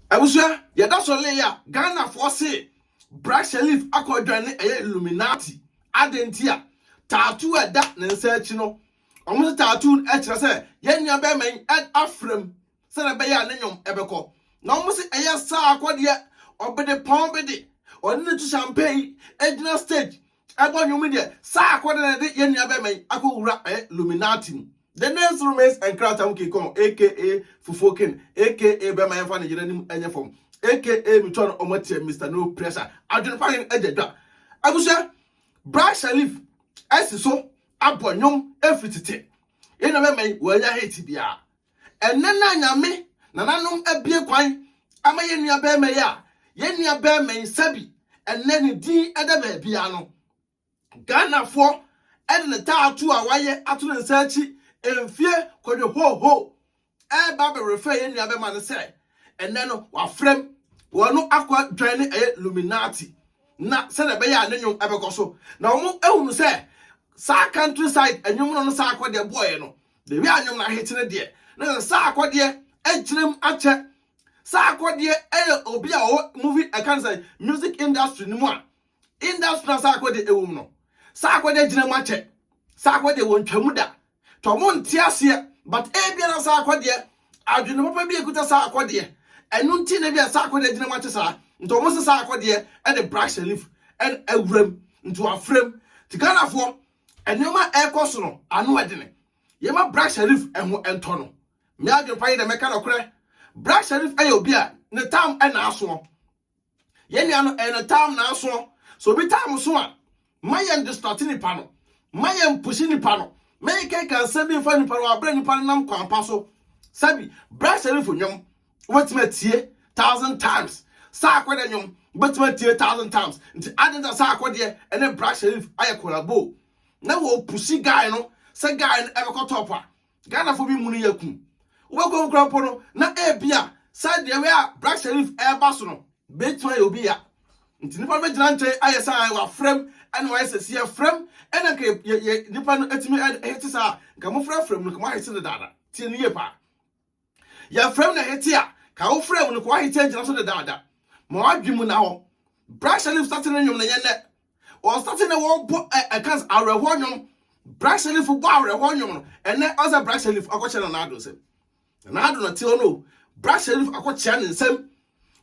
Abusua, yɛda so lee a Ghanafoɔ se Bra Shelif akɔ dwan ne ɛyɛ Illuminati. Adɛn nti a? Tattoo a ɛda ne nsa akyi no, wɔn se tattoo no ɛkyerɛ sɛ yɛn nua bɛɛma yi afrɛm sɛdeɛ ɛbɛyɛ a ne nnwom ɛbɛkɔ. Na wɔn se ɛyɛ saa akɔ deɛ ɔbedepɔn bi de ɔne no tu champagne gyina stage Ɛbɔ nnwom yi deɛ, saa akɔ dɛ na ɛde yɛn nua bɛrima yi akɔ wura ɛyɛ Luminati mu. The next romance nkrataa mu king kong aka fufuo king aka bɛrima yɛnfa ne yere anim nyɛ fam aka metua no ɔmo atia Mister no pressure adwene pa hene agya dwa abusua Bragg Shalif asi so abɔ nnwom ɛfiri tete yɛn nua bɛrima yi wɔanya hate biara Ɛnnɛ no a Nyame nananom abue kwan ama yɛn nuabarima yi a yɛn nuabarima yi sɛbi ɛnnɛ ne din da baabiara no, Ghanafoɔ de ne taatoo a wayɛ ato ne nsa akyi mfie kɔdwe hoohoo ɛreba abɛrefɛ yɛn nuabarima no sɛ ɛnnɛ no wafrɛm wɔn no akɔ dwan ne ɛyɛ Illuminati na sɛdeɛ ɛbɛyɛ a ne nnwom ɛbɛkɔ so na wɔn ahunu sɛ saa country side nnwom no no saa akɔ deɛ boɔɛ no Baabi a nnwom no ahete no deɛ, na sɛ Sarkodie gyina mu akyɛ. Sarkodie yɛ obi a ɔwɔ movie ɛka no sɛ music industry no mu a industry na Sarkodie ɛwɔ mu no Sarkodie gyina mu akyɛ. Sarkodie wɔn twa mu da to ɔmo nte aseɛ but ebia na Sarkodie adwene papa bi ekuta Sarkodie ɛno nti na ebia Sarkodie gyina mu akyɛ saa nti ɔmo sɛ Sarkodie ɛde brash leaf ɛna awuram nti wafrɛm ti Ghanafoɔ Nneɛma a ɛrekɔ so no, ano yɛ den. Yɛmma Bra Sharif ho ntɔ no. Me adwempa ne dɛ, mɛka nokorɛ, Bra Sharif yɛ obi a ne tam naasoɔ. Yɛn nua no, ɛyɛ ne tam naasoɔ. Sɛ obi tam so a, mma yɛn distract nipa no. Mma yɛn push nipa no. Mma yɛn kɛka nsɛm bi mfa nipa no, wabrɛ nipa no nam kwan pa so. Sɛbi, Bra Sharif nnwom. wobɛtumi atie thousand times saa akɔdeɛ nnwom wobɛtumi atie thousand times nti ade nta saa akɔdeɛ ɛne black sherif ayɛ collabo na wɔpusi guy no sɛ guy no ɛbɛkɔ top a ghanafoɔ bi mu no yɛ ku wobɛkɔ mu kora mpo no na ebi a saa deɛ wei a black sherif ɛreba so no bɛtumi ayɛ obi ya nti nipa no bɛgyina nkyɛn ayɛ saa wafrɛm ɛna wayɛ sɛ si yɛfrɛm ɛna nka yɛ yɛ nipa no atumi ɛhete saa nka mofrɛ frɛm no nka moahete no dada tie no yie paa Yɛfrɛ mu na yɛte a, ka wo frɛ mu no kɔ w'ahekyɛ ngyina so dedaada. Ma w'adwene mu nna hɔ. Bra hyɛ ne sate ne nnwom no yɛ nnɛ. Wɔn sate na wɔbɔ ɛ ɛka sɛ awerɛhoɔ nnwom. Bra hyɛ ne fo bɔ awerɛhoɔ nnwom no ɛnnɛ. Ɔn sɛ bra hyɛ ne fo akɔkyɛ na n'ado nsɛm. Na n'ado na te hɔ no o. Bra hyɛ ne fo akɔkyea ne nsɛm.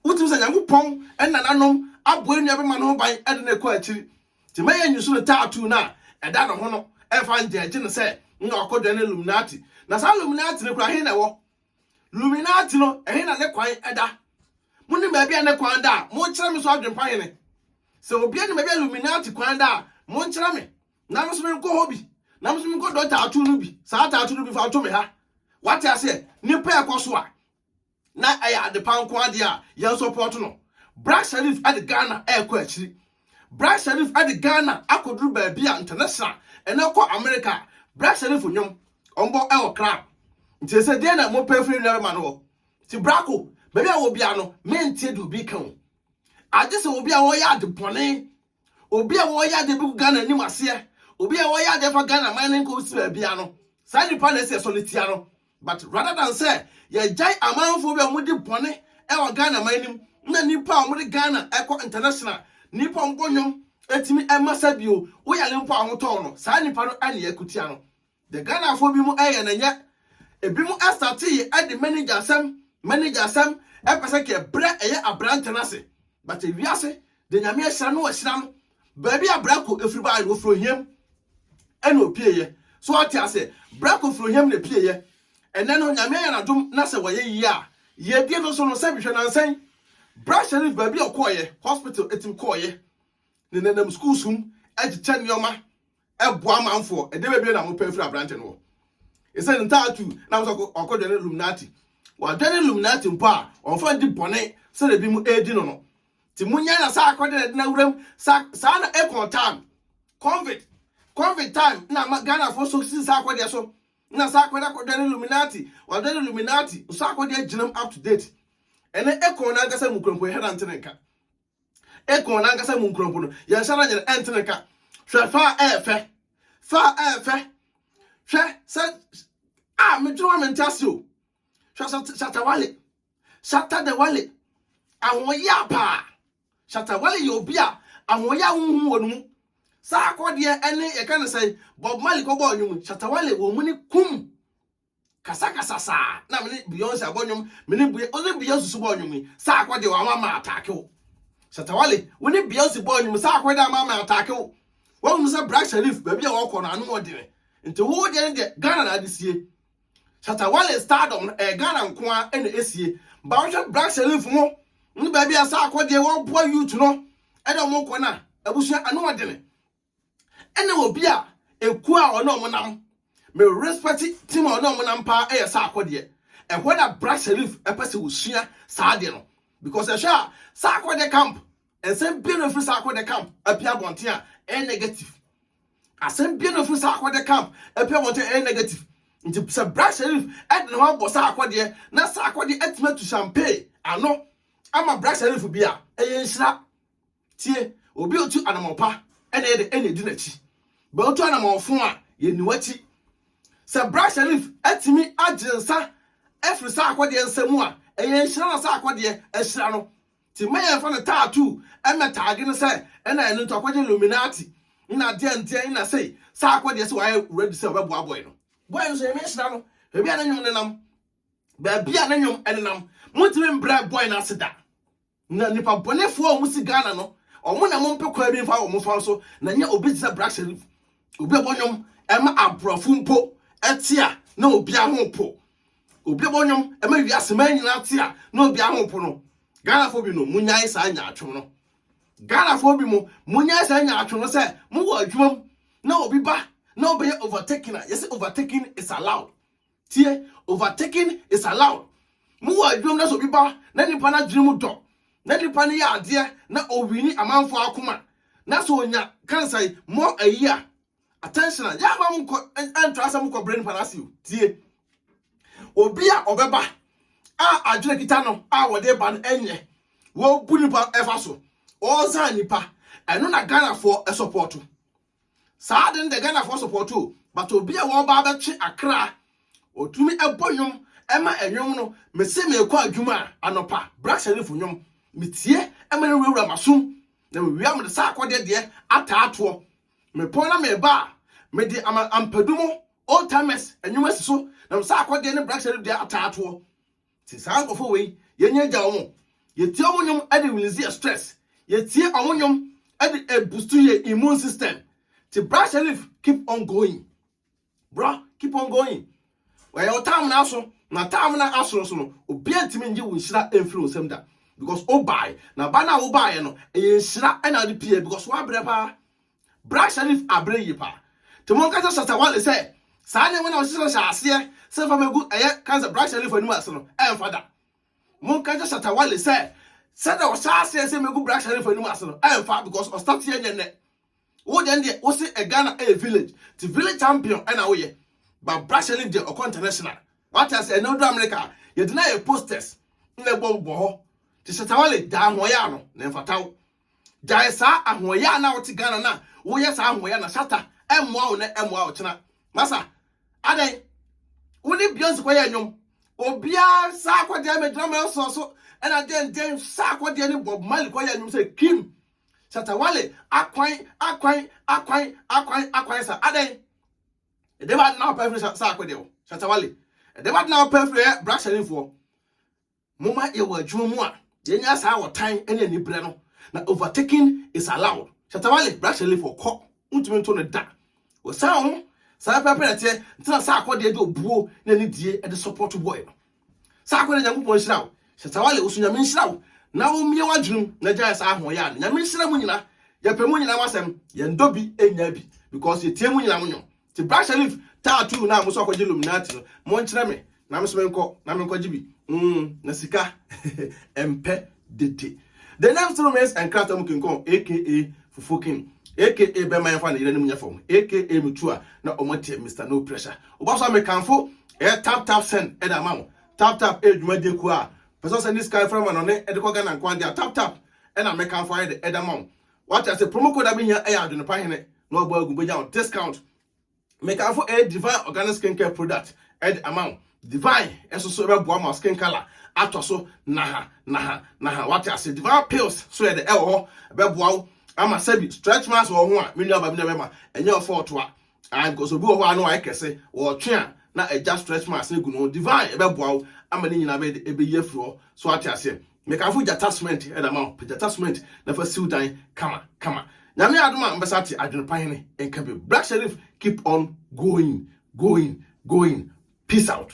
Wotumi sɛ Nyankopɔn ɛne nananom aboa nua bɛma ne ho ban ɛde no ɛkɔ akyiri. Nti mɛyɛ nyusu no tattoo no a ɛda ne ho no ɛmfa ngyɛɛgye no sɛ nna ɔkɔdwɛn ne Illuminati. Na saa Illuminati no kura he na ɛwɔ? Illuminati no ɛhe na ne kwan ɛda? Monim baabi a ne kwan da a monkyerɛ me so adwempa hene. Sɛ obia nim baabi a Illuminati kwan da a monkyerɛ me na me nso menkɔ hɔ bi na me nso menkɔdɔ tattoo no bi saa tattoo no bi mfa nto me ha. Wate aseɛ? Nnipa ɛkɔ so a. na ɛyɛ adepa nko ara deɛ a, yɛn sɔpɔɔto no. Bra Sharif de Ghana rekɔ akyiri. Bra Sharif de Ghana akɔduru baabi a international ɛnɛ kɔ Amerika a, Bra Sharif nnwom ɔmbɔ wɔ club. Nti ɛsɛ deɛ na mopɛ firi nuarima no hɔ. Nti brako, baabi a wɔ biara no, menteɛ deɛ obi reka o. Agye sɛ obi a ɔyɛ ade bɔne Obi a ɔyɛ adeɛ bɛgu Ghana anim aseɛ, obi a ɔyɛ adeɛ fa Ghana man no nkɔsi baabiara no, saa nipa na ɛsɛ sɛ yɛsɔre tia no. But rather than sɛ yɛgyae amanfoɔ bi a wɔdi bɔne wɔ Ghana man no mu, na nnipa a wɔde Ghana kɔ international, nnipa a wɔbɔ nnwom tumi ma sa bio, woyare mpo a ho tɔ wo no, saa nipa no na yɛko tia no. Deɛ Ghanafoɔ bi mo ɛyɛ no nyɛ. Ebi mo ɛsate yɛ ɛde manager asɛm manager asɛm ɛpɛ sɛ kɛ brɛ ɛyɛ abrante no ase. But ewiase deɛ Nyame ahyira no ahyira no. Baabi a Brako ɛfiri baeɛ no ɔfiri ohiam ɛna ɔpie yɛ. So wate aseɛ? Brako firi ohiam na ɛpie yɛ. Ɛnɛ no Nyame ayɛ no adom na sɛ wayɛ yie a, yiedie no so no sɛbi hwɛ nansa yi Bra Sherif baabi a ɔkɔɔyɛ, hospital ɛtim kɔɔyɛ. Ne nanam schools mu ɛkyekyɛ nneɛma. boa amanfoɔ. Ɛdeɛ bɛbie na mopɛ afiri aberante no hɔ? Ɛsɛ ne ntaatu na mo sɛ ɔkɔdwane Illuminati. Wadwane Illuminati mpo a, ɔmfa ndi bɔne sɛdeɛ bi mo ɛredi no no. Ti monyae na saa akɔde na ɛde no awuram. Saa, saa na Akon time, convict, convict time na ama Ghanafoɔ so si saa akɔdeɛ so. Na saa akɔde akɔdwane Illuminati, wadwane Illuminati, saa akɔdeɛ gyinam up to date. Ɛnɛ Akon no ankasa mu kurampo yɛhwɛ na nte ne nka. Ekurɔn no ankasa mu nkurɔfo no, yɛn nsa na yɛn ɛnte ne ka. Hwɛ fa a ɛyɛ fɛ, fa a ɛyɛ fɛ. Hwɛ sɛ a medwene wa mente ase o. Hwɛ Shatawale, Shatadewale, ahoɔyɛ a paa. Shatawale yɛ obi a ahoɔyɛ a wohu wɔ no mu. Saa akɔdeɛ ne yɛka ne sɛn, Bob Marley kɔbɔɔ nnwom, Shatawale wɔ mu ne kum. kasakasa saa na me ne beyonce abɔ nnwom me ne beyonce wo ne beyonce so bɔ nnwom yi saa akɔ de wɔn ama ataake wo satawale wo ne beyonce bɔ nnwom saa akɔ de ama ama ataake wo wɔn mu sɛ black sharif baabi a wɔkɔ no ano ɔdene nti wo deɛ ne deɛ ghana na ade sie satawale stardom no ɛyɛ ghana nko a ɛna esie ba wohwɛ black sharif mo ne baabi a saa akɔ deɛ wɔboa youth no ɛde wɔn kɔ no a abusua ano ɔdene Ɛna obi a ekuo a ɔne ɔmo nam me respect team a ɔne ɔmo nam paa ɛyɛ saako deɛ ɛhɔ na bra sharif ɛpɛ sɛ osua saa adeɛ no because ɛhwɛ a saako de camp nsɛm bie na ofiri saako de camp apia abɔnten a ɛyɛ negative asɛm bie na ofiri saako de camp apia abɔnten a ɛyɛ negative nti sɛ bra sharif ɛde ne ho abɔ saako deɛ na saako deɛ atumi atu champagne ano ama bra sharif bi a ɛyɛ nhyira Tie, obi a otu anamɔn pa, ɛna ɛyɛ dɛ, ɛna di n'akyi. Bɛ otu anamɔn fõ a, yenni w'akyi. Sɛ bra Sherif atumi agye nsa afiri saa akɔdeɛ nsa mu a, ɛyɛ nhyira na saa akɔdeɛ ahyira no. Nti mma yɛmfa no tattoo mmɛtaage no sɛ ɛna ɛno nti wakɔgye Illuminati nna deɛn ndeɛn nna sei. Saa akɔdeɛ sɛ wayɛ ready sɛ ɔbɛboa boy no. Boy no nso Nyame nhyira no baabi a ne nnwom nenam, baabi a ne nnwom nenam. Montumi mbrɛ boy no ase da. Na nipa bɔnefoɔ a wɔn si Ghana no, wɔn na wɔn pɛ kwan bi mfa wɔn fa so, na nyɛ obi te sɛ Black Sherif. Obi a ɛbɔ nnwom ɛma aborɔfo mpo ɛte a na obi aho po. Obi a ɛbɔ nnwom ɛma wiase man nyinaa te a na obi aho po no. Ghanafoɔ bi no, monyae saa nyaatwom no. Ghanafoɔ bi mo, monyae saa nyaatwom no sɛ mowɔ adwuma mu na obi ba na ɔbɛyɛ overtaking a, yɛsɛ overtaking is allowed. Tie, overtaking is allowed. Mo wɔ adwuma mu na sɛ obi ba na nipa no adwene mu dɔ na nipa no yɛ adeɛ na owini amanfoɔ akoma na sɛ onya kansai mɔ ayi a attention a yɛ ama mo nkɔ ɛntra sɛ mo kɔ brɛ nipa no ase o. Tie, obi a ɔbɛba a adwene kita no a wɔde ba no ɛnyɛ wɔbu nipa ɛfa so ɔɔzan nipa ɛno na Ghanafoɔ ɛsɔpɔɔto. Saa ade no deɛ Ghanafoɔ support o but obi a wɔba abɛtwe akra ɔtumi bɔ nnwom ma nnwom no mese meekɔ adwuma a anɔpa Bra Sharif nnwom metie ma no wurawura m'asom na mewia mede saa akɔdeɛ deɛ ataa toɔ mepɔn na meba a mede ama ampadu mo old timers nnwom asi so na saa akɔdeɛ ne Bra Sharif deɛ ataa toɔ Ti saa nkorɔfoɔ wei yɛnya gya ɔmo yɛtie ɔmo nnwom de release yɛ stress yɛtie ɔmo nnwom de ɛbustu yɛ immune system ti bra Sherif keep on going bra keep on going wɔyɛ wo taamena aso na taamena aso nso no obi antumi ngye wo nhyira mfiri wo nsam da because wobae na ba no a wobaeɛ no ɛyɛ nhyira ɛna ade pie because woabrɛ paa Bra Sherif abrɛ yie paa. Nti monka kyerɛ Shatta Wale sɛ saa nneɛma no a ɔhyehyɛ no hyɛ aseɛ sɛ fa mɛgu ɛyɛ cancer Bra Sherif anim ase no ɛmfa da. Monka kyerɛ Shatta Wale sɛ sɛdeɛ ɔhyɛ aseɛ sɛ mɛgu Bra Sherif anim ase no ɛmfa because ɔstarteɛ nyɛ nnɛ. Wo deɛ deɛ wo se ɛ Ghana ɛyɛ village nti village champion ɛna woyɛ but Bra Sherif deɛ ɔkɔ international. Wate ase ɛnɛ ɔduru America a yɛde no ayɛ posters na ɛbɔ bɔ hɔ. Nti Shatta Wale gyaa ahoɔyaa no na ɛmfata wo. Gyae saa ahoɔyɛ a na wote Ghana na woyɛ saa ahoɔyɛ na shata ɛmmoa wo nɛ ɛmmoa wo kyena. Masa adɛn wo ne Beyonce kɔyɛ nnwom obiara saa akɔdeɛ megyina Manson so ɛna denden saa akɔdeɛ ne Bob Marley kɔyɛ nnwom sɛ Kim Shatta Wale akwan akwan akwan akwan akwan sa adɛn ɛdɛ ba de na wopɛ afiri saa akɔdeɛ o Shatta Wale ɛdɛ ba de na wopɛ afiri ɛ brahyɛnefoɔ Momma yɛwɔ adwuma mu a yɛnya saa ɔtan ne anibrɛ no, na overtaking is allowed. Shatta Wale, Black Shelly for kɔ, wontumi nto no da. Wɔ saa ho, saa pɛpɛpɛ na ɛteɛ, nti na Sarko deɛ de obuo ne anidie de support boy no. Sarko deɛ Nyankopɔn nhyira wo, Shatta Wale wo so Nyame nhyira wo, na wo mmie w'adwenem na gyae saa ahoɔyaa no, Nyame nhyira mo nyina, yɛpɛ mo nyina mo asɛm, yɛndɔ bi nnya bi, because yɛtie mo nyina mo nwom. Nti bra Sherif tattoo no a moso akɔgye illuminati no monkyerɛ me na meso menkɔ na menkɔgye bi mm na sika ɛmpɛ dede The name still remains nkrata mu kinkɔn aka fufuo king aka bɛma yɛmfa ne yerɛ no mu nyɛ fam aka metu a na ɔmo teɛ Mister No Pressure woba so a mekanfo ɛyɛ tap tap send ɛde ama wo tap tap ɛyɛ dwumadie kuo a pɛ sɛ ɔsɛ ne sika ɛfrɛ ma na ɔne ɛde kɔ Ghana nko adeɛ a tap tap ɛna mekanfo ayɛ de ɛde ama wo wate ase promo code a mehia ɛyɛ adwenepa hene na ɔbɔ agu bɛnya wo discount mekamfo ɛyɛ divine organic skin care product ɛde ama wo divine ɛso so ɛbɛboa ma skin color atɔ so naha naha naha wate ase divine pills so yɛde ɛwɔ hɔ ɛbɛboa wo ama sɛbi stretch marks wɔ ho a me nua ba me nua bɛma ɛnyɛ ɔfɔ ɔtoa Ah because obi wɔ hɔ a na wayɛ kɛse, wɔtwe a na agya stretch marks no gu ne ho. Divine ɛbɛboa wo ama ne nyinaa bɛyɛ ɛbɛyi afiri hɔ. So ate aseɛ. Mekamfo gyata cement ɛde ama wo. Pɛ gyata cement na fa siw dan kama kama. Nyame adom a mbɛsa ate adwene pa hene nka bio. Black Sherif keep on going going going peace out.